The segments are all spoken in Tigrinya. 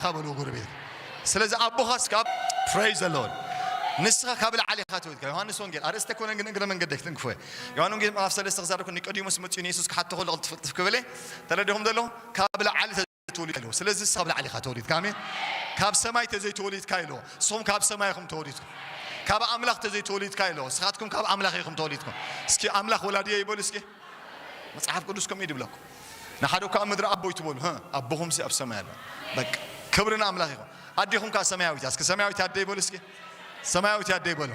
ኢካ በልዎ ጎረቤትካ ስለዚ ኣቦካስ ካብ Praise the Lord ንስካ ካብ ላዓሊ ኢካ ተወልድካ ዮሃንስ ወንጌል ኣርእስቲ ኣይኮነን ግን እግረ መንገደይ ክትንክፎ እየ ዮሃን ወንጌል ምዕራፍ ሰለስተ ክዛረብ ከሎ ኒቆዲሞስ መጺኡ ንየሱስ ክሓቶ ከሎ ቅልጥፍ ቅልጥፍ ክብል ተረዲኩም ዘሎ ካብ ላዓሊ ተወሊድካ ኢልዎ ስለዚ ንስካ ካብ ላዓሊ ኢካ ተወሊድካ ኣሜን ካብ ሰማይ ተዘይ ተወሊድካ ኢልዎ ንስኩም ካብ ሰማይ ኢኩም ተወሊድኩም ካብ ኣምላኽ ተዘይ ተወሊድካ ኢልዎ ንስካትኩም ካብ ኣምላኽ ኢኩም ተወሊድኩም እስኪ ኣምላኽ ወላዲየ ይበሉ እስኪ መጽሓፍ ቅዱስ ከምኡ እዩ ድብለኩም ንሓደ እኳ ኣብ ምድሪ ኣቦይ ትበሉ ህ ኣቦኹምሲ ኣብ ሰማይ ኣሎ በቃ ክብሪ ንኣምላኽ ይኹን ኣዴኹም ከኣ ሰማያዊት እያ እስኪ ሰማያዊት ኣደይ በሉ እስኪ ሰማያዊት ኣደይ በሉ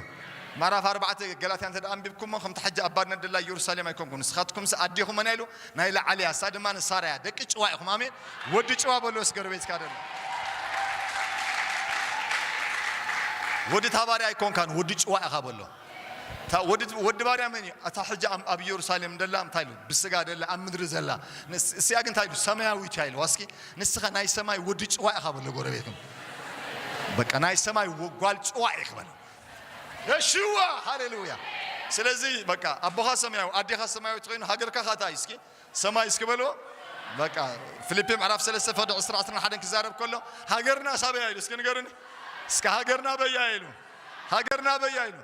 ምዕራፍ ኣርባዕተ ገላትያ እንተ ኣንቢብኩሞ ከምቲ ሕጂ ኣብ ባርነት ደላ ኢየሩሳሌም ኣይኮንኩን ንስኻትኩምስ ኣዴኹም መን ኢሉ ናይ ላዕሊ እያ እሳ ድማ ንሳራ እያ ደቂ ጭዋ ኢኹም ኣሜን ወዲ ጭዋ በሎ እስገ ርቤትካ ደሎ ወዲ ታባሪ ኣይኮንካን ወዲ ጭዋ ኢኻ በሎ እታ ወዲ ወዲ ባርያ መን እዩ? እታ ሕጂ ኣብ ኣብ ኢየሩሳሌም ደላ እንታይ ኢሉ? ብስጋ ደላ ኣብ ምድሪ ዘላ። ንስ- እስያ ግን እንታይ ኢሉ? ሰማያዊት እያ ኢልዋ። እስኪ ንስኻ ናይ ሰማይ ወዲ ጭዋ ኢኻ በሎ ጎረቤትኩም። በቃ ናይ ሰማይ ወ- ጓል ጭዋ ኢኺ በሎ። የሽዋ ሃሌሉያ። ስለዚ በቃ ኣቦኻ ሰማያዊ ኣዴኻ ሰማያዊት ኮይኑ ሃገርካ ካታ እዩ እስኪ ሰማይ እስኪ በልዎ በቃ ፍሊፒ ምዕራፍ ሰለስተ ፈቅዲ ዕስራ ዕስራን ሓደን ክዛረብ ከሎ ሃገርና ሳበያ ኢሉ እስኪ ንገሩኒ እስኪ ሃገርና በያ ኢሉ ሃገርና በያ ኢሉ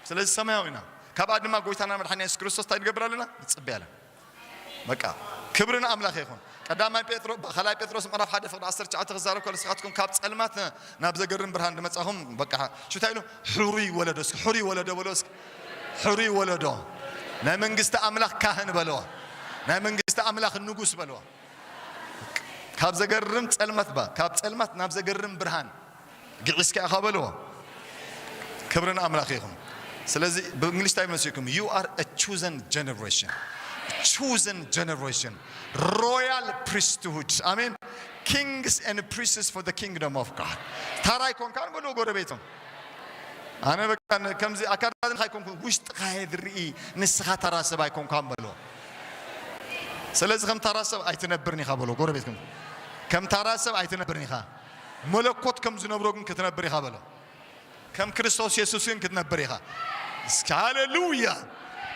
ስለዚ ሰማያዊ ኢና ካብኣ ድማ ጎይታና መድሓኒና የሱስ ክርስቶስ እንታይ ንገብር ኣለና ንጽበያ ኣለና በቃ ክብሪ ንኣምላኽ ይኹን ቀዳማይ ጴጥሮ ካልኣይ ጴጥሮስ ምዕራፍ ሓደ ፍቅዲ ዓሰርተ ትሽዓተ ክዛረብ ከሎ ንስኻትኩም ካብ ጸልማት ናብ ዘገርም ብርሃን ድመጻኹም በቃ ሽታ ኢሉ ሕሩይ ወለዶ እስኪ ሕሩይ ወለዶ በሎ እስኪ ሕሩይ ወለዶ፣ ናይ መንግስቲ ኣምላኽ ካህን በልዋ፣ ናይ መንግስቲ ኣምላኽ ንጉስ በልዋ። ካብ ዘገርም ጸልመት እባ ካብ ጸልማት ናብ ዘገርም ብርሃን ግዒስካ ኢኻ በልዎ። ክብሪ ንኣምላኽ ይኹን። ስለዚ ብእንግሊሽ እንታይ መሲልኩም? ዩ ኣር አ ቹዘን ጀነሬሽን ቹዘን ጀነሬሽን ሮያል ፕሪስትሁድ ኣሜን ኪንግስ ኤንድ ፕሪስትስ ፎር ዘ ኪንግደም ኦፍ ጋድ ታራ ኣይኮንካን በልዎ ጎረቤቶም ኣነ በቃ ን- ከምዚ ኣካዳድናኻ ኣይኮንኩን ውሽጥኻየ ዝርኢ ንስኻ ተራ ሰብ ኣይኮንካን በሎ ስለዚ ከም ታራ ሰብ ኣይትነብርን ኢኻ በሎ ጎረቤት ከም ከም ታራ ሰብ ኣይትነብርን ኢኻ መለኮት ከም ዝነብሮ ግን ክትነብር ኢኻ በሎ ከም ክርስቶስ የሱስ ግን ክትነብር ኢኻ እስኪ ሃሌሉያ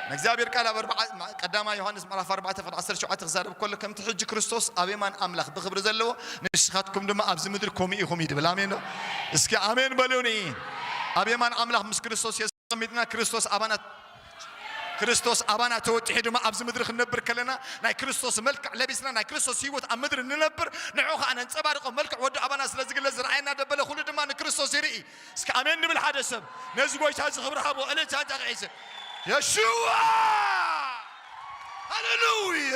ናይ እግዚኣብሔር ቃል ኣብ ኣርብዓ ም ቀዳማይ ዮሐንስ ምዕራፍ ኣርባዕተ ፍቅ ዓሰርተ ሸውዓተ ክዛረብ ከሎ ከምቲ ሕጂ ክርስቶስ ኣብ የማን ኣምላኽ ብኽብሪ ዘለዎ ንስኻትኩም ድማ ኣብዚ ምድሪ ከምኡ ኢኹም እዩ ድብል ኣሜን ዶ እስኪ ኣሜን በሉኒ ኣብ የማን ኣምላኽ ምስ ክርስቶስ የሱስ ተቀሚጥና ክርስቶስ ኣባና ክርስቶስ ኣባና ተወጢሑ ድማ ኣብዚ ምድሪ ክንነብር ከለና ናይ ክርስቶስ መልክዕ ለቢስና ናይ ክርስቶስ ህይወት ኣብ ምድሪ ንነብር ንዑ ከዓ ነንፀባርቆ መልክዕ ወዱ ኣባና ስለ ዝግለፅ ዝረኣየና ደበለ ኩሉ ድማ ንክርስቶስ ይርኢ እስከ ኣሜን ንብል ሓደ ሰብ ነዚ ጎይታ እዚ ክብሪ ሃቦ እልልታ እንተ ክሒዘ የሽዋ ሃለሉያ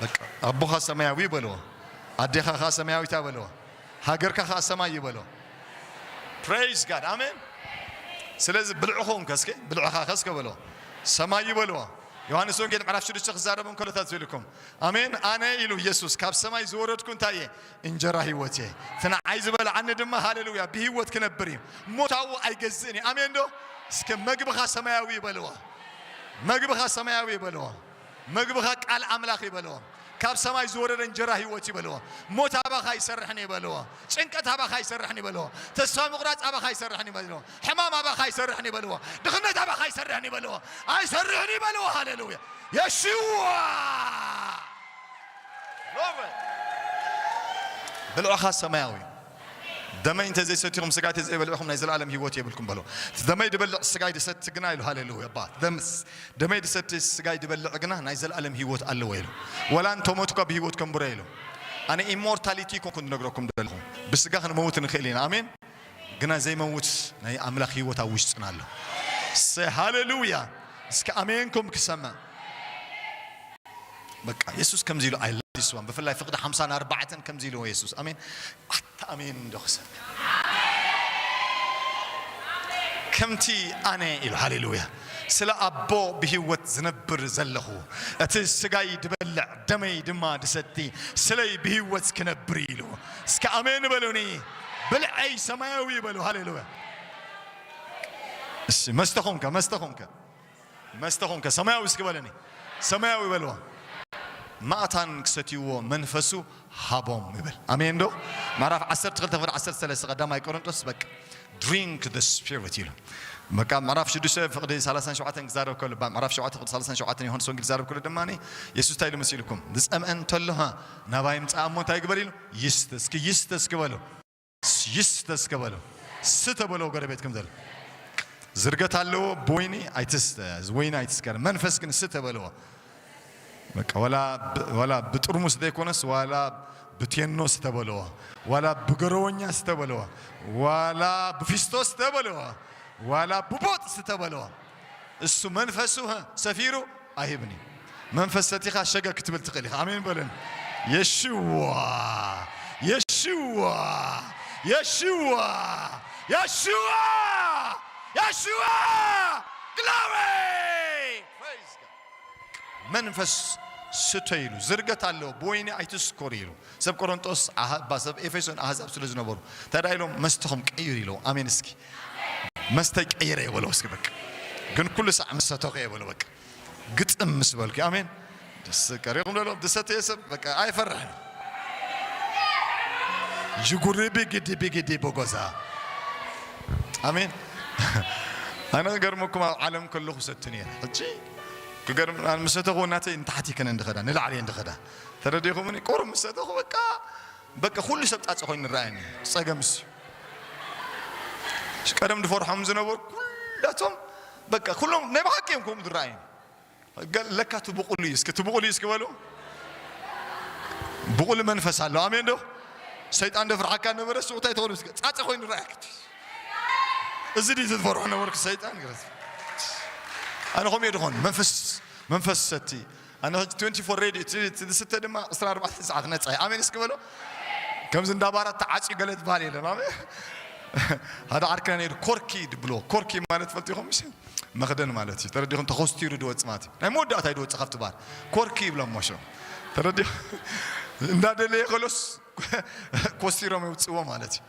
በቃ ኣቦኻ ሰማያዊ በልዎ ኣዴኻ ከኣ ሰማያዊታ በልዎ ሃገርካ ከኣ ሰማይ እዩ በልዎ ፕሬይዝ ጋድ ኣሜን ስለዚ ብልዕኹም ከስከ ብልዕኻ ከስከ በልዎ ሰማይ እዩ በልዎ ዮሃንስ ወንጌል ምዕራፍ ሽዱሽተ ክዛረብ እንከሎ እንታይ ትብልኩም ኣሜን ኣነ ኢሉ ኢየሱስ ካብ ሰማይ ዝወረድኩ እንታይ እየ እንጀራ ህይወት እየ እቲ ንዓይ ዝበልዓኒ ድማ ሃሌሉያ ብህይወት ክነብር እዩ ሞታዊ ኣይገዝእን እዩ ኣሜን ዶ እስከ መግብኻ ሰማያዊ ይበልዎ መግብኻ ሰማያዊ ይበልዎ መግብኻ ቃል ኣምላኽ ይበልዎ ካብ ሰማይ ዝወረደ እንጀራ ህይወት ይበልዎ ሞት ኣባኻ ይሰርሕን ይበልዎ ጭንቀት ኣባኻ ይሰርሕን ይበልዎ ተስፋ ምቑራፅ ኣባኻ ይሰርሕን ይበልዎ ሕማም ኣባኻ ይሰርሕን ይበልዎ ድኽነት ኣባኻ ይሰርሕን ይበልዎ ኣይሰርሕን ይበልዎ ሃሌሉያ የሽዋ ብልዕኻ ሰማያዊ እዩ። ደመይ እንተ ዘይሰቲኹም ስጋይ እንተ ዘይበሊዕኹም ናይ ዘለኣለም ህይወት የብልኩም በሎ። እቲ ደመይ ድበልዕ ስጋይ ድሰቲ ግና ኢሉ ሃሌሉያ እባ ደምስ ደመይ ድሰቲ ስጋይ ድበልዕ ግና ናይ ዘለኣለም ህይወት ኣለዎ ኢሉ ወላ እንተ ሞቱ እኳ ብህይወት ከንብሮ ኢሉ ኣነ ኢሞርታሊቲ ኮንኩ ንነግረኩም ደለኹ ብስጋ ክንመውት ንኽእል ኢና ኣሜን ግና ዘይመውት ናይ ኣምላክ ሂወት ኣብ ውሽጥና ኣሎ እሰይ ሃለሉያ እስከ ኣሜን እልኩም ክሰምዕ በቃ የሱስ ከምዚ ኢሉ ኣይ ላቭ ዲስ ዋን ብፍላይ ፍቅዲ ሓምሳን ኣርባዕተን ከምዚ ኢልዎ የሱስ ኣሜን ኣታ ኣሜን እንዶ ክሰምዕ ከምቲ ኣነ ኢሉ ሃሌሉያ ስለ ኣቦ ብሂወት ዝነብር ዘለኹ እቲ ስጋይ ድበልዕ ደመይ ድማ ድሰቲ ስለይ ብሂወት ክነብር ኢሉ እስከ ኣሜን በሉኒ ብልዐይ ሰማያዊ በሉ ሃሌሉያ እሺ መስተ ኮንከ መስተ ኮንከ መስተ ኮንከ ሰማያዊ እስኪ በለኒ ሰማያዊ በልዋ ማእታን ክሰትይዎ መንፈሱ ሃቦም ይብል ኣሜን ዶ ምዕራፍ 12 ክፍል 13 ቀዳማይ ቆሮንጦስ በቃ ድሪንክ ደ ስፒሪት ኢሉ በቃ ምዕራፍ 6 ፍቅዲ 37 ክዛረብ ከሎ ምዕራፍ 7 ፍቅዲ 37 ዮሃንስ ወንጌል ክዛረብ ከሎ ድማ የሱስ እንታይ ኢሉ መሲልኩም ዝፀምአ እንተሎ ናባይ ምጻእ እሞ እንታይ ግበር ኢሉ ይስተ እስኪ ይስተ እስኪ በሎ ይስተ እስኪ በሎ ስተ በሎ ጎረቤትኩም ዘሎ ዝርገት ኣለዎ ብወይኒ ኣይትስተ ወይኒ ኣይትስከር መንፈስ ግን ስተ በለዎ በቃ ወላ ብ- ወላ ብጥርሙስ ዘይኮነስ ዋላ ብቴኖ ስተ በለዎ ዋላ ብገረወኛ ስተ በለዎ ዋላ ብፊስቶ ስተ በለዎ ዋላ ብቦጥ ስተ በለዎ እሱ መንፈሱ ህ ሰፊሩ ኣይህብን እዩ መንፈስ ሰቲኻ ሸገ ክትብል ትኽእል ኢኻ ኣሜን በለን የሽዋ የሽዋ የሽዋ የሽዋ የሽዋ ግላዌ መንፈስ ስተዩ ኢሉ ዝርገት ኣለዎ ብወይኒ ኣይትስኮሩ ኢሉ ሰብ ቆሮንጦስ ኣህባ ሰብ ኤፌሶን ኣህዛብ ስለ ዝነበሩ እንታይ ኢሎም መስተኹም ቀይሩ ኢለዎ ኣሜን እስኪ መስተይ ቀይረ እየ በሎ እስኪ በቃ ግን ኩሉ ሳዕ ምስ ሰተኹ እየ በሎ በቃ ግጥም ምስ በልኩ ኣሜን ደስ ቀሪኹም ለሎ ዝሰተየ ሰብ በቃ ኣይፈርሕን ጅጉሪ ቢግዲ ቢግዲ ቦጎዛ ኣሜን ኣነ ክገርመኩም ኣብ ዓለም ከለኹ ሰቲ ነይረ ሕጂ ክገርም ኣነ ምስ ሰተኹ ናተይ ንታሕቲ ከነ እንድኸዳ ንላዕሊ እየ እንድኸዳ ተረዲኹምኒ ቁሩብ ምስ ሰተኹ በቃ በቃ ኩሉ ሰብ ጣፂ ኮይኑ ይረኣየኒ ፀገምስ እዩ ቀደም ዝፈርሖም ዝነበሩ ኩላቶም በቃ ኩሎም ናይ ብሓቂ እዮም ከምኡ ዝረኣየኒ ለካ እቲ ብቑል እዩ እስኪ እቲ ብቑል እዩ እስኪ በሉ ብቑል መንፈስ ኣሎ ኣሜን ዶ ሰይጣን ደፍርሓካ ነበረ ሱቕ እንታይ ትኾኑ እስኪ ጻጸ ኮይኑ ረኣክ እዚ ድዩ ዝትፈርሖ ነበርኩ ሰይጣን ግረት ኣነ ከምኡ ድኾን መንፈስ መንፈስ ሰቲ ኣነ 24 ሬድ እቲ ዝስተ ድማ 24 ሰዓት ነጻ እዩ ኣሜን እስኪ በሎ ከምዚ እንዳ ባራት ተዓፅዩ ገለ ዝበሃል የለን ኣሜን ሓደ ዓርክና ነይሩ ኮርኪ ድብሎ ኮርኪ ማለት ፈልጢኹም መኽደን ማለት እዩ ተረዲኹም ተኾስቲሩ ድወፅ ማለት እዩ ናይ መወዳእታይ ድወፅ ካብቲ ባር ኮርኪ ይብሎም ሞሾ ተረዲኹ እንዳደለየ ከሎስ ኮስቲሮም የውፅዎ ማለት እዩ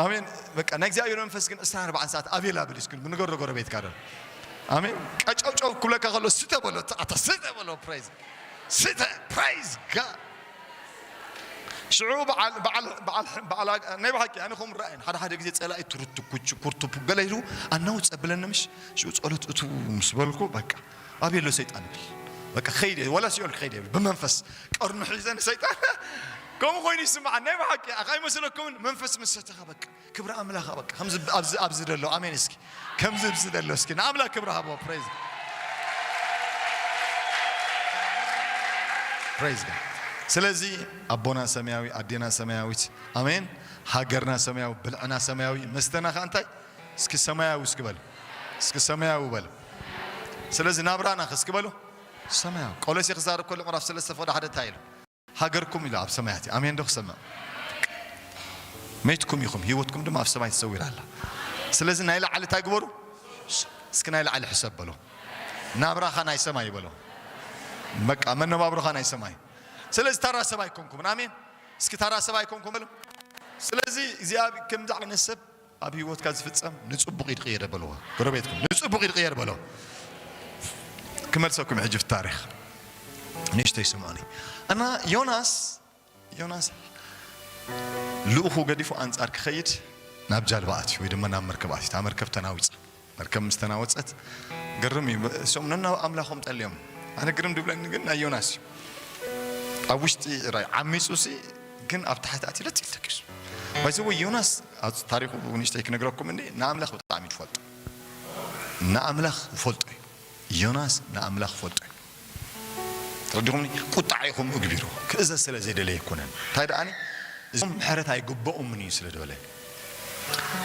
ኣሜን በቃ ናይ እግዚኣብሔር መንፈስ ግን እሳ ኣርባዓን ሰዓት ኣቬላብል ስኩል ብንገሮ ጎረቤት ካደ ኣሜን ቀጨውጨው ኩለካ ከሎ ስተ በሎ ኣታ ስተ በሎ ፕራይዝ ስተ ፕራይዝ ጋድ ሽዑ በዓል በዓል በዓል በዓል ናይ ብሓቂ ኣነ ከምኡ ራእየን ሓደ ሓደ ግዜ ጸላኢ ትርቱ ኩቹ ኩርቱ ገለ ኢሉ ኣናው ጸብለኒ ምሽ ሽዑ ጸሎት እቱ ምስ በልኩ በቃ ኣበይ ኣሎ ሰይጣን ይብል በቃ ከይድ እየ ወላ ሲኦል ክኸይድ ይብል ብመንፈስ ቀርኑ ሒዘ ንሰይጣን ከምኡ ኮይኑ ይስምዓን ናይ ብሓቂ ኣይመስለኩምን መንፈስ ምስ ሰተኻ በቃ ክብሪ ኣምላኽ ኣበቃ ከምዚ ኣብዚ ኣብዚ ደሎ ኣሜን እስኪ ከምዚ ብዚ ደሎ እስኪ ንኣምላኽ ክብሪ ሃቦ ፕሬዝ ፕሬዝ ጋድ ስለዚ ኣቦና ሰማያዊ ኣዴና ሰማያዊት ኣሜን ሃገርና ሰማያዊ ብልዕና ሰማያዊ መስተና ከ እንታይ እስኪ ሰማያዊ እስኪ በሉ እስኪ ሰማያዊ በሉ ስለዚ ናብራና ከ እስኪ በሉ ሰማያዊ ቆሎሴ ክዛረብ ከሎ ምዕራፍ ሰለስተ ፍቅዲ ሓደ እንታይ ኢሉ ሃገርኩም ኢሉ ኣብ ሰማያት እዩ ኣሜን ዶ ክሰምዕ መይትኩም ኢኹም ህይወትኩም ድማ ኣብ ሰማይ ተሰዊራ ኣላ ስለዚ ናይ ላዕሊ እንታይ ግበሩ እስኪ ናይ ላዕሊ ሕሰብ በሎ ናብራኻ ናይ ሰማይ በሎ በቃ መነባብሮኻ ናይ ሰማይ ስለዚ ታራ ሰብ ኣይኮንኩምን ኣሜን እስኪ ታራ ሰብ ኣይኮንኩም በሎ ስለዚ እግዚኣብሔር ከምዚ ዓይነት ሰብ ኣብ ሂወትካ ዝፍጸም ንጽቡቅ ይድቅየደ በልዎ ጎረቤትኩም ንጽቡቅ ይድቅየደ በሎ ክመልሰኩም እዩ ሕጂ ኣብቲ ታሪኽ ንእሽተይ ስምዑኒ እና ዮናስ ዮናስ ልኡኹ ገዲፉ ኣንጻር ክኸይድ ናብ ጃልባ ኣትዩ ወይ ድማ ናብ መርከብ ኣትዩ እታ መርከብ ተናዊጻ መርከብ ምስ ተናወጸት ግርም እዩ እሶም ነናብ ኣምላኾም ጠልዮም ኣነ ግርም ድብለኒ ግን ናይ ዮናስ እዩ ኣብ ውሽጢ ራይ ዓሚጹ ሲ ግን ኣብ ታሕቲ ኣትዩ ለጥ ተኪሱ ባይዘወ ዮናስ ታሪኹ ንእሽተይ ክነግረኩም እኒ ንኣምላኽ ብጣዕሚ ትፈልጡ ንኣምላኽ ይፈልጦ እዩ ዮናስ ንኣምላኽ ፈልጦ እዩ ተረዲኹምኒ ቁጥዓ ኢኹም እግቢሩ ክእዘዝ ስለ ዘይደለየ ኣይኮነን እንታይ ደኣኒ እዞም ምሕረት ኣይግበኦምን እዩ ስለ ዝበለ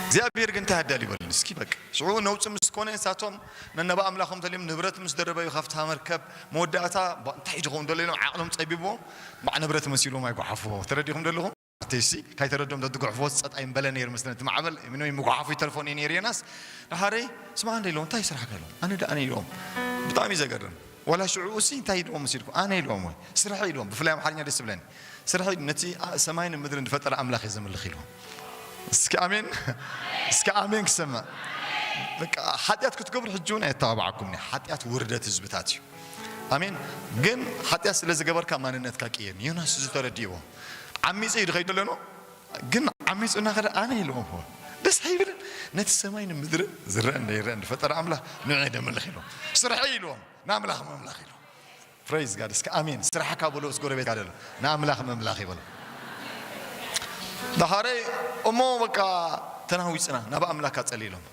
እግዚኣብሔር ግን እንታይ ኣዳል ይበልን እስኪ በቃ ሽዑ ነውፅ ምስ ኮነ ንሳቶም ነነባ ኣምላኾም ተልዮም ንብረት ምስ ደረበዩ ካብታ መርከብ መወዳእታ እንታይ እዩ ዝኸውን ደሎ ኢሎም ዓቕሎም ፀቢብዎም ባዕ ንብረት መሲሎም ኣይጓሓፍዎ ተረዲኹም ደለኹም እቲሲ ካይ ተረዶም ተድጉሕፍዎስ ጸጥ ኣይምበለ ነይሩ ምስለ እቲ ማዕበል ምንም ይምጉሓፉ ይተርፎ ነይ ነይሩ የናስ ድሓረይ ስማ እንደ ኢሎም እንታይ ስራሕ ከሎም ኣነ ድኣ ኢሎም ብጣዕሚ ዘገርም ዋላ ሽዑኡሲ እንታይ ኢልዎም ምስ ኢልኩ ኣነ ኢልዎም ወይ ስርሐ ኢልዎም ብፍላይ ኣምሓርኛ ደስ ብለኒ ስርሐ ነቲ ሰማይን ምድርን ዝፈጠረ ኣምላኽ እየ ዘምልኽ ኢልዎም እስኪ ኣሜን እስኪ ኣሜን ክሰምዕ በቃ ሓጢኣት ክትገብሩ ሕጂ እውን ኣየተባባዓኩምኒ ሓጢኣት ውርደት ህዝብታት እዩ ኣሜን ግን ሓጢኣት ስለ ዝገበርካ ማንነትካ ቅየርኒ ዮናስ እዚ ተረዲእዎ ዓሚጸ እዩ ድኸይድ ደለኖ ግን ዓሚጹ እናኸደ ኣነ ኢሉ ሆሆ ደስ ኣይብልን ነቲ ሰማይ ንምድርን ዝረእን ደይረእን ድፈጠረ ኣምላኽ ንዑ እየ ደምልኽ ኢሎም ስርሐይ ኢሎም ንኣምላኽ መምላኽ ኢሎም ፕሬዝ ጋድ እስከ ኣሜን ስራሕካ በሎ ምስ ጎረቤትካ ደሎ ንኣምላኽ መምላኽ ይበሎ ዳሓረ እሞ በቃ ተናዊጽና ናብ ኣምላካ ጸሊ ኢሎም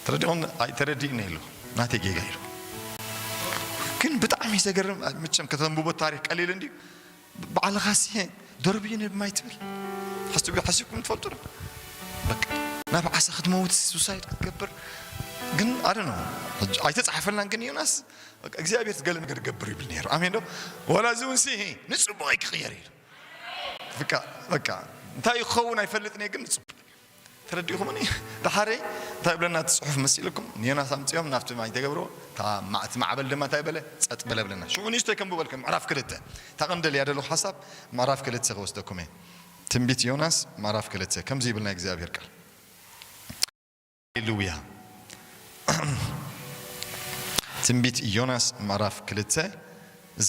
ተረዲኹም ኣይተረዲእኒ ኢሉ ናተይ ጌጋ ኢሉ ግን ብጣዕሚ ዘገርም ምቸም ከተንብቦ ታሪክ ቀሊል እንድዩ ባዕልኻ ስየ ደርብዩ ንብ ማይ ትብል ሓስብ ሓሲብኩም ትፈልጡ ዶ በቃ ናብ ዓሳ ክትመውት ሱሳይድ ክትገብር ግን ኣደ ነው ኣይተጻሓፈናን ግን ዮናስ በቃ እግዚኣብሔር ትገለ ነገር ገብር ይብል ነይሩ ኣሜን ዶ ወላ እዚ እውን ሲ ንጽቡቕ ክቕየር እዩ በቃ በቃ እንታይ ክኸውን ኣይፈልጥን እየ ግን ንጽቡቕ ተረዲእኹምኒ ደሓረይ እንታይ ይብለና እቲ ጽሑፍ መሲልኩም ንዮናስ ኣምጺኦም ናብቲ ማይ ተገብርዎ እታ እቲ ማዕበል ድማ እንታይ በለ ጸጥ በለ በለና ሽዑ ንእሽተይ ከንብበልኩም ምዕራፍ ክልተ እታ ቀንዲ ልያደለኹ ሓሳብ ምዕራፍ ክልተ ክወስደኩም እየ ትንቢት ዮናስ ምዕራፍ ክልተ ከምዚ ይብል ናይ እግዚኣብሔር ቃል ሃሌሉያ ትንቢት ዮናስ ምዕራፍ ክልተ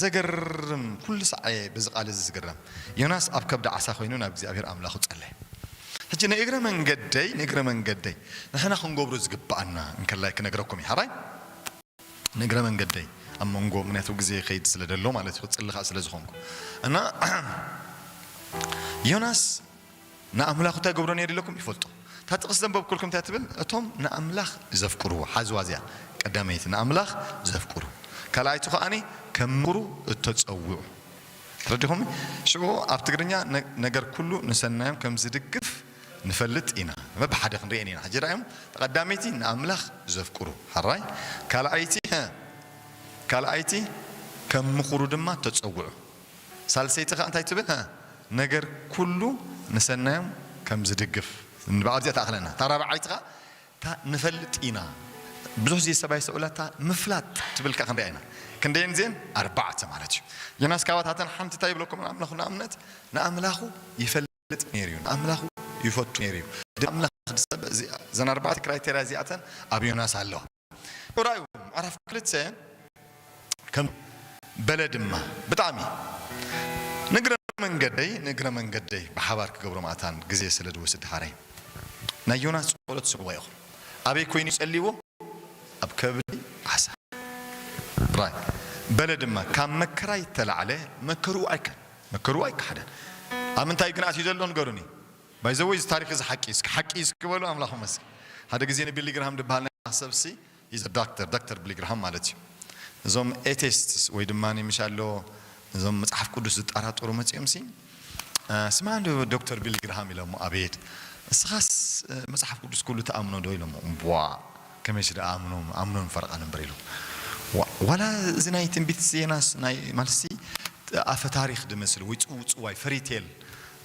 ዘገርም ኩሉ ሳዕ እየ በዚ ቃል እዚ ዝግረም ዮናስ ኣብ ከብዲ ዓሳ ኮይኑ ናብ እግዚኣብሄር ኣምላኹ ጸለየ ሕጂ ናይ እግረ መንገደይ ንእግረ መንገደይ ንሕና ክንገብሮ ዝግብኣና እንከላይ ክነግረኩም እየ ሓራይ ንእግረ መንገደይ ኣብ መንጎ ምክንያቱ ግዜ ይኸይድ ስለ ደሎ ማለት እዩ ክጽሊ ከኣ ስለ ዝኾንኩ እና ዮናስ ንኣምላኽ እንታይ ክገብሮ ነይርለኩም ይፈልጦ። እታ ጥቕሲ ዘንበብኩልኩም እንታይ ትብል እቶም ንኣምላኽ ዘፍቅርዎ ሓዝዋ እዚኣ ቀዳመይቲ ንኣምላኽ ዘፍቅሩ ካልኣይቲ ከኣ ከምሩ እተጸውዑ ተረዲኹም ሽዑ ኣብ ትግርኛ ነገር ኩሉ ንሰናዮም ከም ዝድግፍ ንፈልጥ ኢና በብሓደ ክንርእየን ኢና ሕጂ ራእዮም ቀዳመይቲ ንኣምላኽ ዘፍቅሩ ሓራይ ካልኣይቲ ካልኣይቲ ከም ምኽሩ ድማ ተጸውዑ ሳልሰይቲ ከኣ እንታይ ትብል ሃ ነገር ኩሉ ንሰናዮም ከም ዝድግፍ ንብዓል እዚኣ ትኣክለና እታ ራብዓይቲ ከኣ እታ ንፈልጥ ኢና ብዙሕ ግዜ ሰብ ኣይስተውዕላ እታ ምፍላጥ ትብል ከኣ ክንሪኣ ኢና ክንደየን እዚኤን ኣርባዕተ ማለት እዩ ዮናስ ካብታተን ሓንቲ እንታይ ይብለኩም ንኣምላኹ ንኣብነት ንኣምላኹ ይፈልጥ ይፈልጥ ነይሩ እዩ ንኣምላኹ ይፈቱ ነይሩ እዩ ኣምላኽ ሰብ እዘን ኣርባዕተ ክራይቴርያ እዚኣተን ኣብ ዮናስ ኣለዋ ዑራዩ ምዕራፍ ክልተ ከም በለ ድማ ብጣዕሚ ንግረ መንገደይ ንግረ መንገደይ ብሓባር ክገብሮ ማእታን ግዜ ስለ ድወስድ ድሓረይ ናይ ዮናስ ጸሎት ስምዕዎ ኢኹም ኣበይ ኮይኑ እዩ ጸሊዎ ኣብ ከብዲ ዓሳ ዑራይ በለ ድማ ካብ መከራ ይተላዕለ መከርኡ ኣይከን መከርኡ ኣይካሓደን ኣብ ምንታይ ግን ኣትዩ ዘሎ ንገሩኒ ባይ ዘ ወይ እዚ ታሪክ እዚ ሓቂ እዩ እስኪ ሓቂ እዩ እስኪ በሉ ኣምላክ ይመስገን ሓደ ግዜ ን ቢሊ ግርሃም ድብሃል ናይ ኣምላክ ሰብ ሲ ሂዝ ኣ ዳክተር ዳክተር ብሊ ግርሃም ማለት እዩ እዞም ኤቴስትስ ወይ ድማ ምሽ ኣሎ እዞም መጽሓፍ ቅዱስ ዝጣራጠሩ መጺኦም ሲ ስምዓ እንዶ ዶክተር ቢሊ ግርሃም ኢሎሞ ኣቤት እስኻስ መጽሓፍ ቅዱስ ኩሉ ትኣምኖ ዶ ኢሎሞ እምቧእ ከመይሲ ደኣ ኣምኖ ኣምኖ ን ፈረቃን እምበር ኢሎም ዋ ዋላ እዚ ናይ ትንቢት ዮናስ ናይ ማለትሲ ኣፈ ታሪክ ድመስል ወይ ጽውጽዋይ ፈሪቴል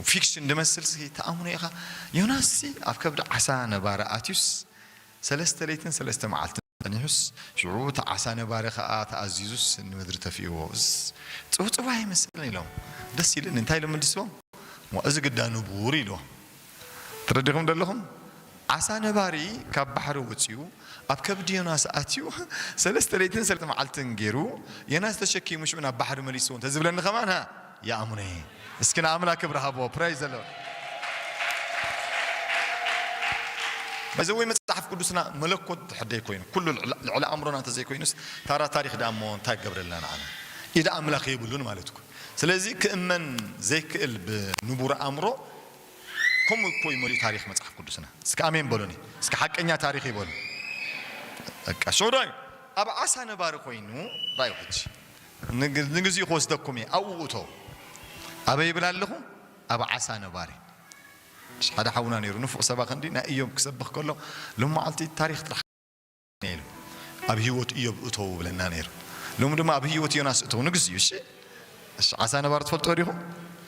ፊክሽን ድመስልሲ ትኣምኖ ኢኻ ዮናስሲ ኣብ ከብዲ ዓሳ ነባሪ ኣትዩስ ሰለስተ ለይትን ሰለስተ መዓልትን ጸኒሑስ ሽዑ እቲ ዓሳ ነባሪ ከኣ ተኣዚዙስ ንምድሪ ተፊእዎ እዝስ ጽውጽዋይ ይመስል ኢሎም ደስ ኢልኒ እንታይ ኢሎም መልስዎም እዋእ እዚ ግዳ ንቡር ኢልዎም ተረዲኹም ዶ ኣለኹም? ዓሳ ነባሪ ካብ ባሕሪ ወጺኡ ኣብ ከብዲ ዮናስ ኣትዩ ሰለስተ ለይትን ሰለስተ መዓልትን ጌሩ ዮናስ ተሸኪሙ ሽዑ ናብ ባሕሪ መሊስዎ እንተ ዝብለኒ ከማን ሃ ይኣምኖ እየ። እስኪ ንኣምላክ ክብሪ ሃብዎ ፕራይዝ ዘ ሎርድ። በዚ ወይ መጽሓፍ ቅዱስና መለኮት ድሕር ዘይኮይኑ ኩሉ ልዕሊ ልዕሊ ኣእምሮና እንተ ዘይኮይኑስ ታራ ታሪኽ ደኣ እሞ እንታይ ክገብረልና ንዓና ኢድ ኣምላኽ የብሉን ማለት እኮ እዩ። ስለዚ ክእመን ዘይክእል ብንቡር ኣእምሮ ከምኡ እኮ እዩ መሊኡ ታሪኽ መጽሓፍ ቅዱስና እስከ ኣሜን በሉኒ እስከ ሓቀኛ ታሪኽ እዩ በሉ በቃ ሽዑ ራዩ ኣብ ዓሳ ነባሪ ኮይኑ ራዩ ሕጂ ንግዚኡ ክወስደኩም እየ ኣብኡ እቶ ኣበይ ይብል ኣለኹ ኣብ ዓሳ ነባሪ ሓደ ሓውና ነይሩ ንፉዕ ሰባኺ እንዲ ናይ እዮብ ክሰብኽ ከሎ ሎማዓልቲ ታሪኽ ጥራሕ ነይሩ ኣብ ሂወት እዮብ እተዉ ብለና ነይሩ ሎሚ ድማ ኣብ ሂወት ዮናስ እተዉ ንግስ እዩ እሺ እሺ ዓሳ ነባሪ ትፈልጥዎ ዲኹም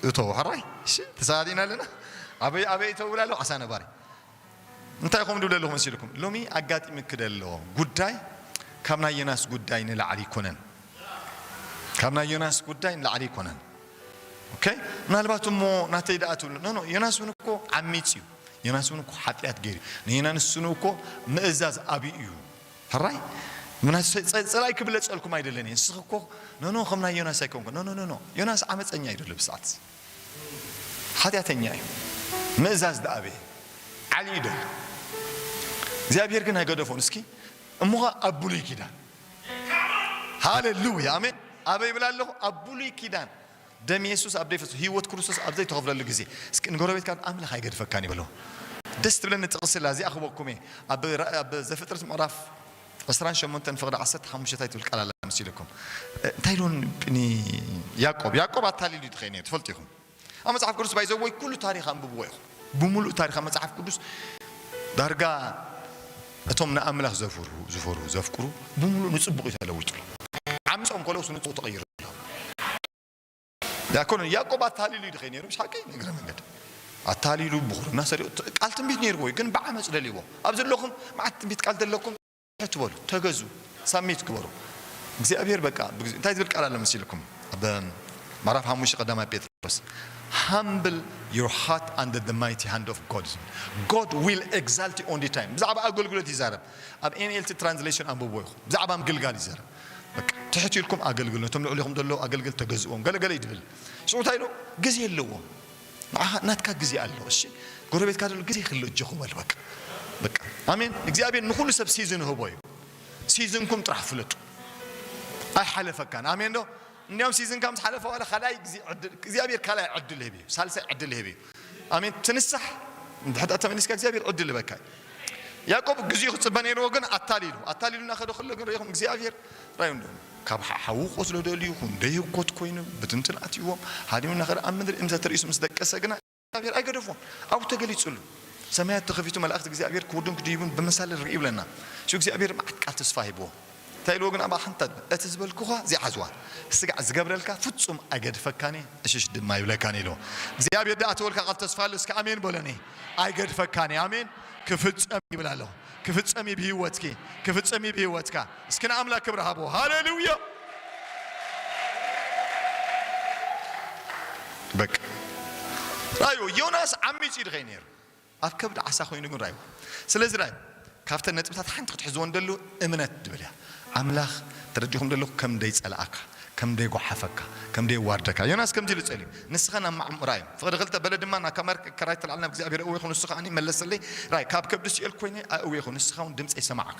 እተዉ ሕራይ እሺ ተሳኣሊና ኣለና ኣበይ ኣበይ እተዉ ብላ ኣለኹ ዓሳ ነባሪ እንታይ ኮም ድብለ ኣለኹ መሲልኩም ሎሚ ኣጋጢሚ ክደሎ ጉዳይ ካብ ናይ ዮናስ ጉዳይ ንላዕሊ ይኮነን ካብ ናይ ዮናስ ጉዳይ ንላዕሊ ይኮነን ኦኬ ምናልባት እሞ ናተይ ደኣ ትብሉ ኖ ኖ ዮናስ እውን እኮ ዓሚፅ እዩ ዮናስ እውን እኮ ሓጢኣት ገይሩ እዩ ንይና ንስኑ እኮ ምእዛዝ ኣብዩ እዩ ሕራይ ምናስ ፀላኢ ክብለፀልኩም ኣይደለን እየ ንስኺ እኮ ኖኖ ከም ናይ ዮናስ ኣይኮንኩ ኖኖ ኖኖ ዮናስ ዓመፀኛ እዩ ደሎ ብሰዓት ሓጢኣተኛ እዩ ምእዛዝ ዳኣበየ ዓሊ እዩ ደሎ እግዚኣብሔር ግን ኣይገደፎን እስኪ እሞኸ ኣብ ብሉይ ኪዳን ሃሌሉያ ኣሜን ኣበይ ይብል ኣለኹ ኣብ ብሉይ ኪዳን ደም የሱስ ኣብ ዘይፈስ ህይወት ክርስቶስ ኣብ ዘይተኸፍለሉ ግዜ እስኪ ንጎረቤትካ ኣምላኽ ኣይገድፈካን እዩ በሎ ደስ ትብለኒ ጥቕሲ ኣላ እዚኣ ክበኩም እየ ኣብ ኣብ ዘፍጥረት ምዕራፍ ዕስራን ሸሞንተን ፍቕዲ ዓሰርተ ሓሙሽተ እንታይ ትብል ቃል ኣላ ምስ ኢለኩም እንታይ ኢሉ ንያዕቆብ ያዕቆብ ኣታሊሉ ተኸይኑ እዩ ትፈልጡ ኢኹም ኣብ መጽሓፍ ቅዱስ ባይ ዘወይ ኩሉ ታሪኽ ኣንብብዎ ኢኹም ብምሉእ ታሪኻ መጽሓፍ ቅዱስ ዳርጋ እቶም ንኣምላኽ ዘፍርሁ ዝፈርሁ ዘፍቅሩ ብምሉእ ንጽቡቕ እዩ ተለዊጡሎም። ዓምጾም ከለውስ ንጽቡቕ ተቐይሩ ኣይኮነን ያዕቆብ ኣታሊሉ እዩ ድኸይ ነይሩ ይስሓቂ ንእግረ መንገድ ኣታሊሉ ብኹርና ሰሪቑ ቃል ትንቢት ነይርዎ እዩ ግን ብዓመፅ ደልይዎ ኣብ ዘለኹም መዓት ትንቢት ቃል ዘለኩም ትሕት በሉ ተገዙ ሳሚት ግበሩ እግዚኣብሔር በቃ እንታይ ዝብል ቃል ኣሎ መሲልኩም ኣብ ምዕራፍ ሓሙሽተ ቀዳማይ ጴጥሮስ ሃምብል ዮር ሃርት ኣንደር ደ ማይቲ ሃንድ ኦፍ ጎድ ዝብል ጎድ ዊል ኤግዛልት ኦንሊ ታይም ብዛዕባ ኣገልግሎት ይዛረብ ኣብ ኤንኤልቲ ትራንስሌሽን ኣንብቦ ኢኹ ብዛዕባ ምግልጋል ይዛረብ ትሕት ኢልኩም ኣገልግል ነቶም ልዕሊኹም ዘለዉ ኣገልግል ተገዝዎም ገለገለ ይድብል ሽዑ እንታይ ኢሉ ግዜ ኣለዎም ንዓኻ ናትካ ግዜ ኣሎ እሺ ጎረቤትካ ዘሎ ግዜ ክህሉ እጆኹ በል በቃ በቃ ኣሜን እግዚኣብሔር ንኹሉ ሰብ ሲዝን ህቦ እዩ ሲዝንኩም ጥራሕ ፍለጡ ኣይሓለፈካን ኣሜን ዶ እንዲያውም ሲዝንካ ምስ ሓለፈ ዋላ ካልኣይ ግዜ ዕድል እግዚኣብሔር ካልኣይ ዕድል ህብ እዩ ሳልሳይ ዕድል ህብ እዩ ኣሜን ትንሳሕ ድሕዳ ተመሊስካ እግዚኣብሔር ዕድል ህበካ እዩ ያዕቆብ ግዜኡ ክጽበ ነይርዎ ግን ኣታሊሉ ኣታሊሉና ከደ ከሎ ግን ርኢኹም እግዚኣብሔር ራዩ እንዶ ካብ ሓሓዊ ቁስሉ ደልዩ ይኹን ደይህኮት ኮይኑ ብትንትን ኣትዩዎም ሃዲሙ እናኸደ ኣብ ምድሪ እንተቲ ርእሱ ምስ ደቀሰ ግና እግዚኣብሔር ኣይገደፎን ኣብኡ ተገሊጹሉ ሰማያት ተኸፊቱ መላእክት እግዚኣብሔር ክወርዱን ክድይቡን ብመሳልል ርእዩ ይብለና ሽዑ እግዚኣብሔር መዓት ቃል ተስፋ ሂብዎ እንታይ ኢልዎ ግን ኣብኣ ሓንቲ ኣደ እቲ ዝበልኩኻ ዘይዓዝዋ ስጋዕ ዝገብረልካ ፍጹም ኣይገድፈካን እየ እሽሽ ድማ ኣይብለካን ኢልዎ እግዚኣብሔር ድኣተወልካ ቃል ተስፋ ኣሎ እስከ ኣሜን በሎኒ ኣይገድፈካን እየ ኣሜን ክፍጸም ይብል ኣለኹ ክፍጸም እዩ ብህይወትኪ ክፍጸም እዩ ብህይወትካ እስኪ ንኣምላክ ክብሪ ሃቦ ሃለሉያ። በቃ ራዩ ዮናስ ዓሚጽ ድኸይ ነይሩ ኣብ ከብዲ ዓሳ ኮይኑ ግን ራዩ ስለዚ ራዩ ካብተን ነጥብታት ሓንቲ ክትሕዝዎ እንደሉ እምነት ድብል እያ ኣምላኽ ተረዲኹም ደለኹ ከም ደይ ጸላኣካ ከም ደይ ጓሓፈካ ከም ደይ ዋርደካ ዮናስ ከምዚ ኢሉ ጸልዩ ንስኻ ናብ ማዕሙ ራዩ ፍቕዲ ክልተ በለ ድማ ናብ ካማር ከራይ ተላዕል ናብ እግዚኣብሔር እወኹ ንሱ ከዓኒ መለሰለይ ራይ ካብ ከብዲ ሲኦል ኮይነ ኣእወኹ ንስኻ ውን ድምጸይ ሰማዓካ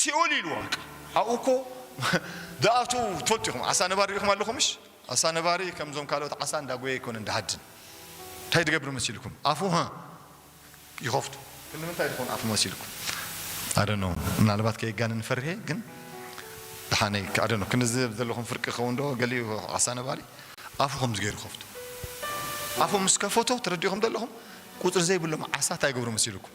ሲኦል ኢልዋ እካ ኣብኡ እኮ ድኣትዉ ትፈልጡ ኢኹም ዓሳ ነባሪ ሪኢኹም ኣለኹምሽ ዓሳ ነባሪ ከምዞም ካልኦት ዓሳ እንዳጎየ ኣይኮነን ድሃድን እንታይ ድገብር መሲልኩም ኣፉ ሀ ይኸፍቱ ክንምንታይ ድኾን ኣፉ መሲልኩም ኣደኖ ምናልባት ከየጋንን ፈርሔ ግን ድሓነይ ኣደኖ ክንዝብ ዘለኹም ፍርቂ ክኸውን ዶ ገሊኡ ዓሳ ነባሪ ኣፉ ከምዚ ገይሩ ከፍቱ ኣፉ ምስ ከፈቶ ተረዲኹም ዘለኹም ቁፅሪ ዘይብሎም ዓሳ እንታይ ይገብሩ መሲልኩም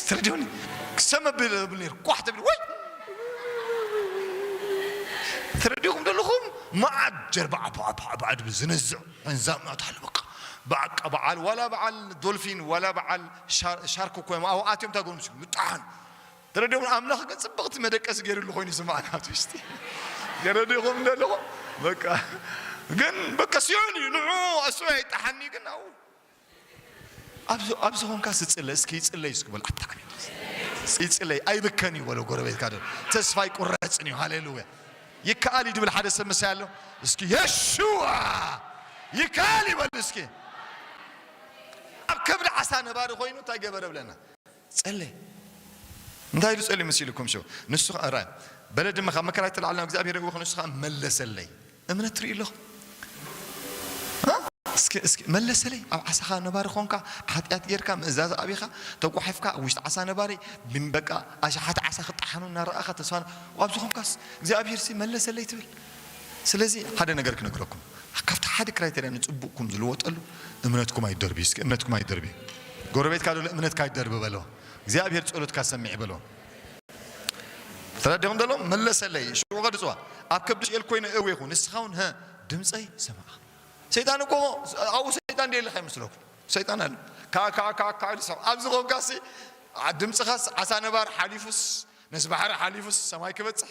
ስትረድዮኒ ክሰም ኣቢለ ዝብል ነይሩ ኳሕ ተቢሉ ወይ ትረድኹም ዘለኹም መዓት ጀርባ ዓባዓባዓባዓ ድብል ዝነዝዕ እንዛምናት ኣሎ በቃ በቃ በዓል ዋላ በዓል ዶልፊን ዋላ በዓል ሻርክ ኮይም ኣብኡ ኣትዮም ታጎምሲ ምጣሓን ተረዲኹም ኣምላኽ ግን ፅብቕቲ መደቀሲ ገይሩሉ ኮይኑ ዝማዕና ኣብ ውሽጢ ገረዲኹም ዘለኹም በቃ ግን በቃ ሲኦል እዩ ንዑ ኣሱ ኣይጣሓኒ ግን ኣብኡ ኣብዚ ኮንካስ ይፅለ እስኪ ይፅለይ እስኪ በል ኣታዕሚ ይፅለይ ኣይብከን እዩ በሎ ጎረቤትካ ዶ ተስፋ ኣይቁረፅን እዩ ሃሌሉያ ይከኣል እዩ ድብል ሓደ ሰብ ምሳይ ኣሎ እስኪ የሽዋ ይከኣል ይበል እስኪ ኣብ ከብዲ ዓሳ ነባሪ ኮይኑ እንታይ ገበረ ብለና ጸለየ እንታይ ኢሉ ጸልዩ መሲሉኩም ሸው ንሱ ከኣ ራይ በለ ድማ ካብ መከራይ ተላዕል ናብ እግዚኣብሄር የእወኹ ንሱ ከኣ መለሰለይ እምነት ትሪኡ ኣለኹም እስኪ እስኪ መለሰለይ ኣብ ዓሳኻ ነባሪ ኾንካ ሓጢኣት ጌርካ ምእዛዝ ኣቢኻ ተጓሒፍካ ኣብ ውሽጢ ዓሳ ነባሪ በቃ ኣሽሓት ዓሳ ክጠሓኑ እናረኣኻ ተስፋ ኣብዚ ኾንካስ እግዚኣብሄርሲ መለሰለይ ትብል ስለዚ ሓደ ነገር ክነግረኩም ካብቲ ሓደ ክራይተርያ ንጽቡቅኩም ዝልወጠሉ እምነትኩም ኣይትደርብዩ እስኪ እምነትኩም ኣይትደርብዩ ጎረቤትካ ዘሎ እምነትካ ኣይትደርቢ በሎ እግዚኣብሔር ጸሎትካ ሰሚዕ በሎ ተረዲኹም ዘሎ መለሰለይ ሽዑ ከድጽዋ ኣብ ከብዲ ሽኤል ኮይነ እዌኹ ንስኻውን ሀ ድምጸይ ሰማዕ ሰይጣን እኮ ኣብኡ ሰይጣን ደየለ ከይመስለኩም ሰይጣን ኣለ ካዓ ካዓ ካዓ ካዓ ኢሉ ሰማዕ ኣብዚ ኮንካሲ ድምጽኻስ ዓሳ ነባር ሓሊፉስ ነዚ ባሕሪ ሓሊፉስ ሰማይ ክበጽሕ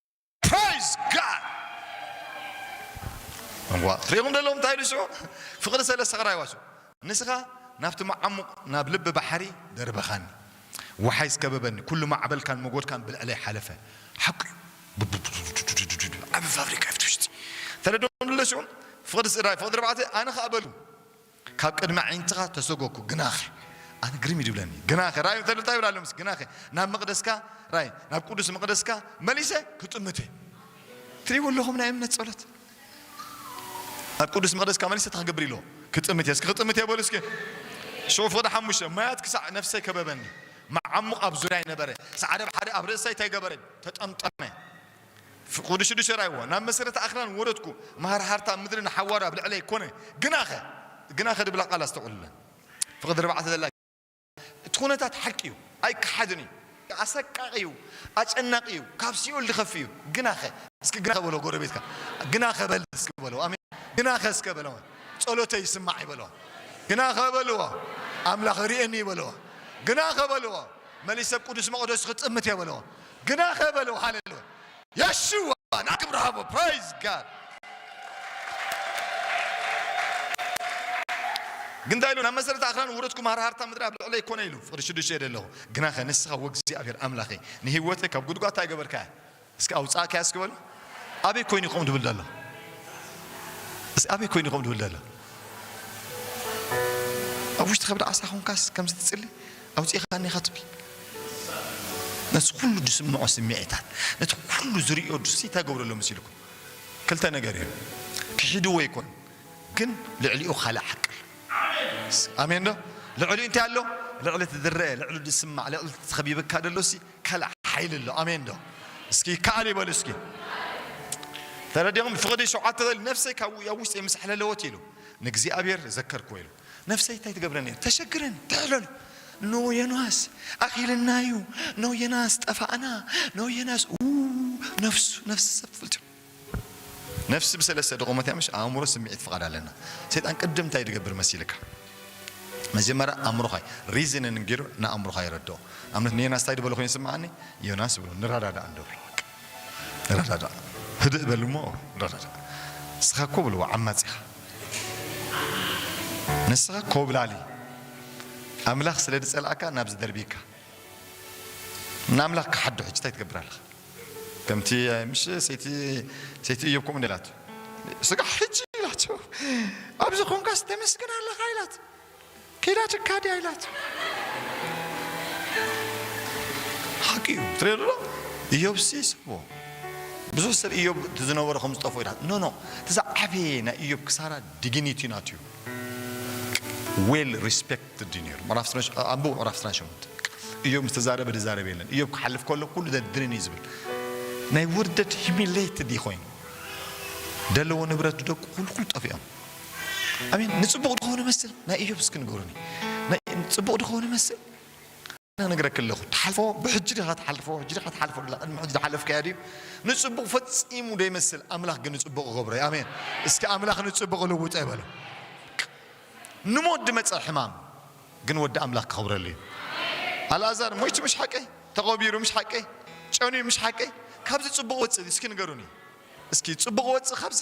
Praise God! እዋ ትሪኹም ደለኹም እንታይ ኢሉ ሽዑ ፍቕሪ ሰለ ሰቕራይዋ ሽዑ ንስኻ ናብቲ መዓሙቕ ናብ ልቢ ባሕሪ ደርበኻኒ ወሓይዝ ከበበኒ ኩሉ ማዕበልካን መጎድካን ብልዕለይ ሓለፈ ሓቂ ዓቢ ፋብሪካ ይፍትሽቲ ተለዶ ንለ ሽዑ ፍቕሪ ስድራይ ፍቕሪ ርባዕተ ኣነ ኸኣ በሉ ካብ ቅድሚ ኣዒንትኻ ተሰጐግኩ፣ ግናኸ። ኣነ ግርም እዩ ዚብለኒ፣ ግናኸ ርኣዩ እንተ እንታይ ይብል ኣሎ መሰ፣ ግናኸ ናብ መቕደስካ፣ ርኣይ፣ ናብ ቅዱስ መቕደስካ መሊሰ ክጥምት እየ። ትርእይዎ ኣለኹም ናይ እምነት ጸሎት። ናብ ቅዱስ መቕደስካ መሊሰ እንታይ ክገብር ኢልዎ፣ ክጥምት እየ። እስኪ ክጥምት እየ በሉ እስኪ። ሽዑ ፍቕዲ ሓሙሽተ፣ ማያት ክሳዕ ነፍሰይ ከበበኒ፣ መዓሙቕ ኣብ ዙርያይ ነበረ፣ ጻዕዳ ባሕሪ ኣብ ርእሰይ ተገበረ፣ ተጠምጠመ። ወዲ ሽዱሸራይዋ፣ ናብ መሰረት ኣኽራን ወረድኩ፣ መሃርሃርታ ምድሪ ንሓዋሩ ኣብ ልዕለይ ኮነ፣ ግናኸ፣ ግናኸ ድብላ ቃል ኣስተውዕሉለን፣ ፍቕዲ ኣርባዕተ ዘላ ግናኸ፣ እቲ ኩነታት ሓቂ እዩ፣ ኣይከሓድን እዩ፣ ኣሰቃቒ እዩ፣ ኣጨናቒ እዩ፣ ካብ ሲኦል ዝኸፍእ እዩ፣ ግናኸ፣ እስኪ ግናኸ በሎ ጎረቤትካ፣ ግናኸ በል እስኪ በሎ፣ ኣሜን፣ ግናኸ እስከ በሎ፣ ጸሎተይ ይስማዕ ይበሎ፣ ግናኸ በልዎ፣ ኣምላኽ ርእየኒ ይበልዎ፣ ግናኸ በልዎ፣ መሊሰ ኣብ ቅዱስ መቕደሱ ክጥምት እየ በልዎ፣ ግናኸ በሉ ሃሌሉያ የሹዋ ናክብር ሃቦ ፕራይዝ ጋድ ግን እንታይ ኢሉ ናብ መሰረት ኣኽራን ውረድኩም ሃርሃርታ ምድሪ ኣብ ልዕለይ ኮነ ኢሉ ፍቅዲ ሽዱሽተ የደ ኣለኹ ግናኸ ንስኻ ወእግዚኣብሔር ኣምላኸይ ንህይወተይ ካብ ጉድጓድ እንታይ ገበርካያ እስኪ ኣውፃእካያ እስኪ በሉ ኣበይ ኮይኑ ይኸም ድብል ደሎ እዚ ኣበይ ኮይኑ ይኸም ድብል ደሎ ኣብ ውሽጢ ከብዲ ዓሳ ኾንካስ ከምዚ ትፅሊ ኣውጺእካኒ ኢኻ ትብሊ ነቲ ኩሉ ዝስምዖ ስሚዒታት ነቲ ኩሉ ዝርእዮ ድስ ይተገብረሎ መሲልኩም ክልተ ነገር እዩ ክሒድዎ ይኮን ግን ልዕሊኡ ካልእ ሓቂ ኣሎ ኣሜን ዶ ልዕሊኡ እንታይ ኣሎ ልዕሊ እቲ ዝረአ ልዕሊ ዝስማዕ ልዕሊ እቲ ተኸቢብካ ደሎሲ ካልእ ሓይሊ ኣሎ ኣሜን ዶ እስኪ ይከኣል ይበሉ እስኪ ተረዲኹም ፍቕዲ ሸውዓተ በል ነፍሰይ ካብ ኣብ ውሽጢ ምስ ኣሕለለወት ኢሉ ንእግዚኣብሔር ዘከርኩዎ ኢሉ ነፍሰይ ታይ ትገብረኒ እያ ተሸግረን ትሕለሉ ን ዮናስ ኣኺልናዩ ን ዮናስ ጠፋእና ን ዮናስ ኡውው ነፍሱ ነፍሲ ሰብ ትፈልጥዮ ነፍሲ ብሰለስተ ድቆመት እያ ምሽ ኣእምሮ ስምዒት ፍቓድ ኣለና ሰይጣን ቅድም ታይ ድገብር መሲልካ መጀመርያ ኣእምሮኻይ ሪዝንን ጌሩ ንኣእምሮኻ የረድኦ ኣብነት ንዮናስ ታይ ድበሎ ኮይኑ ይስምዓኒ ዮናስ ብሎ ንረዳዳእ ንደብሮ ረዳዳእ ህድእ በል እሞ ረዳዳእ ንስኻ እኮ በልዎ ዓማጺ ኢኻ ንስኻ ኮብላሊ ኣምላኽ ስለ ዝጸልኣካ ናብ ዝደርብየካ ንኣምላኽ ክሓዶ ሕጂ እንታይ ትገብር ኣለኻ ከምቲ ምሽ ሰይቲ ሰይቲ እዮብ ከምኡ ንላቱ ስጋ ሕጂ ኢላቶ ኣብዚ ኮንካስ ተመስግን ኣለኻ ኢላት ኪዳ ጭካ ድያ ኢላቶ። ሓቂ እዩ ትሪኦ ዶ እዮብሲ ይስሕቦ ብዙሕ ሰብ እዮብ እቲ ዝነበሮ ከም ዝጠፍኦ ኢላ ኖ ኖ እቲ ዝዓበየ ናይ እዮብ ክሳራ ዲግኒቲ ናቱ እዩ ዌል ሪስፔክትድ እዩ ነይሩ ምዕራፍ ስነ ኣንብቡ ምዕራፍ ስነ ሸሞንተ እዮብ ምስ ተዛረበ ዝዛረብ የለን እዮብ ክሓልፍ ከሎ ኩሉ ዘድንን እዩ ዝብል ናይ ውርደት ሂሚሌትድ እዩ ኮይኑ ደለዎ ንብረት ደቁ ኩሉ ኩሉ ጠፊኦም ኣሜን ንጽቡቕ ድኾን ይመስል ናይ እዮብ እስኪ ንገሩኒ ጽቡቕ ድኾን ይመስል ኣነ ነግረክ ኣለኹ ትሓልፎ ብሕጂ ድኻ ትሓልፎ ሕጂ ድኻ ትሓልፎ ላ ቅድሚ ሕጂ ዝሓለፍካያ ድዩ ንጽቡቕ ፈጺሙ ደይመስል ኣምላኽ ግን ንጽቡቕ ይገብሮ ኣሜን እስኪ ኣምላኽ ንጽቡቕ ልውጠ ይበሎ ንሞት ድመጸ ሕማም ግን ወዲ ኣምላኽ ክኸብረሉ እዩ ኣልኣዛር ሞይቱ ምሽ ሓቀይ ተቐቢሩ ምሽ ሓቀይ ጨንዩ ምሽ ሓቀይ ካብዚ ጽቡቕ ወጽእ እስኪ ንገሩኒ እስኪ ጽቡቕ ወጽእ ካብዚ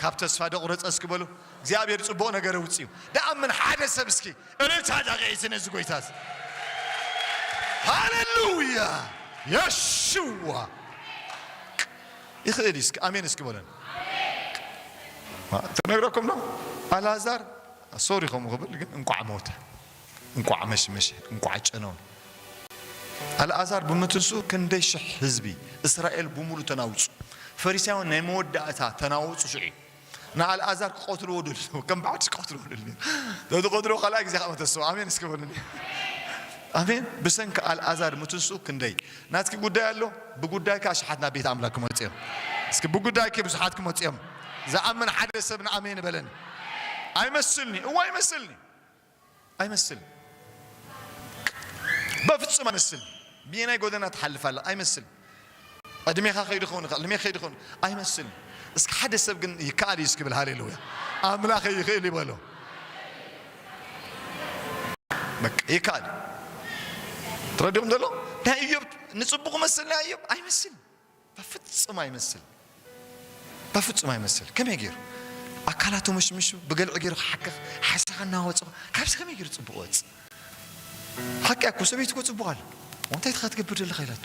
ካብ ተስፋ ዶ ቁረጸ እስኪ በሉ እግዚኣብሔር ጽቡቅ ነገር ኣውጺኡ ደኣምን ሓደ ሰብ እስኪ እልልታ ዳቂዒሲ ነዚ ጎይታ እዚ ሃለሉያ የሽዋ ይኽእል እዩ እስኪ ኣሜን እስኪ በለን ተነግረኩም ዶ ኣልኣዛር ሶሪ ከምኡ ክብል ግን እንቋዕ ሞተ እንቋዕ መሽመሸ እንቋዕ ጨነወ። ኣልኣዛር ብምትንስኡ ክንደይ ሽሕ ህዝቢ እስራኤል ብምሉ ተናውጹ። ፈሪሳውያን ናይ መወዳእታ ተናወጹ ሽዑ እዩ። ንኣልኣዛር ክቀትልዎ ደልዎ ከም ብሓድሽ ክቀትልዎ ደልዎ ተትቀትልዎ ካልኣይ ግዜ ከኣ ተስኡ ኣሜን እስኪ በሉኒ ኣሜን ብሰንኪ ኣልኣዛር ምትንስኡ ክንደይ ናትኪ ጉዳይ ኣሎ ብጉዳይኪ ኣሽሓት ናብ ቤት ኣምላክ ክመጹ እዮም እስኪ ብጉዳይኪ ብዙሓት ክመጹ እዮም ዝኣምን ሓደ ሰብ ንኣሜን በለኒ ኣይመስልኒ እዋ ይመስልኒ ኣይመስልን በፍጹም ኣይመስልን ብየናይ ጎደና ትሓልፍ ኣላ ኣይመስልን ዕድሜኻ ከይዱ ክኸውን ይኽእል ዕድሜ ከይዱ ክኸውን ኣይመስልን እስኪ ሓደ ሰብ ግን ይከኣል እዩ እስኪ ብል ሃሌሉያ ኣምላኸ ይኽእል ይበሎ በቃ ይከኣል እዩ ትረድኹም ዘሎ ናይ እዮብ ንጽቡቕ መሰልና እዮብ ኣይመስልን በፍጹም ኣይመስል በፍጹም ኣይመስል ከመይ ጌሩ ኣካላቱ ምሽምሹ ብገልዒ ጌሩ ክሓክኽ ሓሳኻ እናወጾ ካብዚ ከመይ ጌሩ ጽቡቕ ወጽ ሓቂ ኣኮ ሰበይቲ ኮ ጽቡቕ ኣለ እንታይ ትኻ ትገብር ዘለኻ ኢላቶ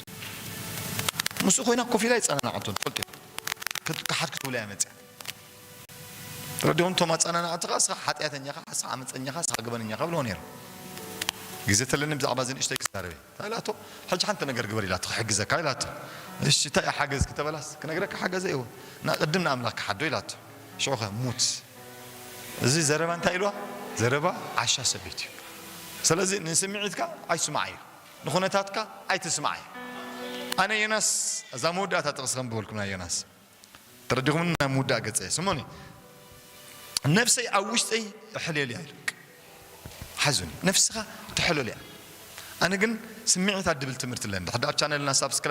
ምስኡ ኮይና ኮፍ ኢላ ይጸናናዓቶ ትፈልጡ ክሓድ ክትብሎ እያ መጽያ ረዲኦም ቶም ኣጸናናዕቲ ኸኣ እስኻ ሓጢኣተኛኻ ሓሳ ዓመጸኛኻ እስኻ ገበነኛኻ ብለዎ ነይሮም ግዜ ተለኒ ብዛዕባ እዚ ንእሽተይ ክዛረብ እየ ኢላቶ ሕጂ ሓንቲ ነገር ግበር ኢላቶ ክሕግዘካ ኢላቶ እሺ እንታይ እያ ሓገዝ ክተበላስ ክነግረካ ሓገዘ እወ እና ቅድም ንኣምላክ ክሓዶ ኢላቶ ሽዑ ከ ሙት እዚ ዘረባ እንታይ ኢልዋ ዘረባ ዓሻ ሰብ ቤት እዩ ሰለዚ ንስምዒትካ ኣይስማዓዮ ንኩነታትካ ኣይትስማዓዮ ኣነ ዮናስ እዛ መወዳእታ ጥቅሲ ከንብበልኩም ናይ ዮናስ ተረዲኹምኒ ናይ ምውዳእ ገጸ ስሙኒ ነፍሰይ ኣብ ውሽጠይ እሕሌልያ ኢሉ ሓዙኒ ነፍስኻ ትሕለልያ ኣነ ግን ስምዒታት ድብል ትምህርቲ ኣለኒ ድሕዳር ቻነልና ሳብስክራ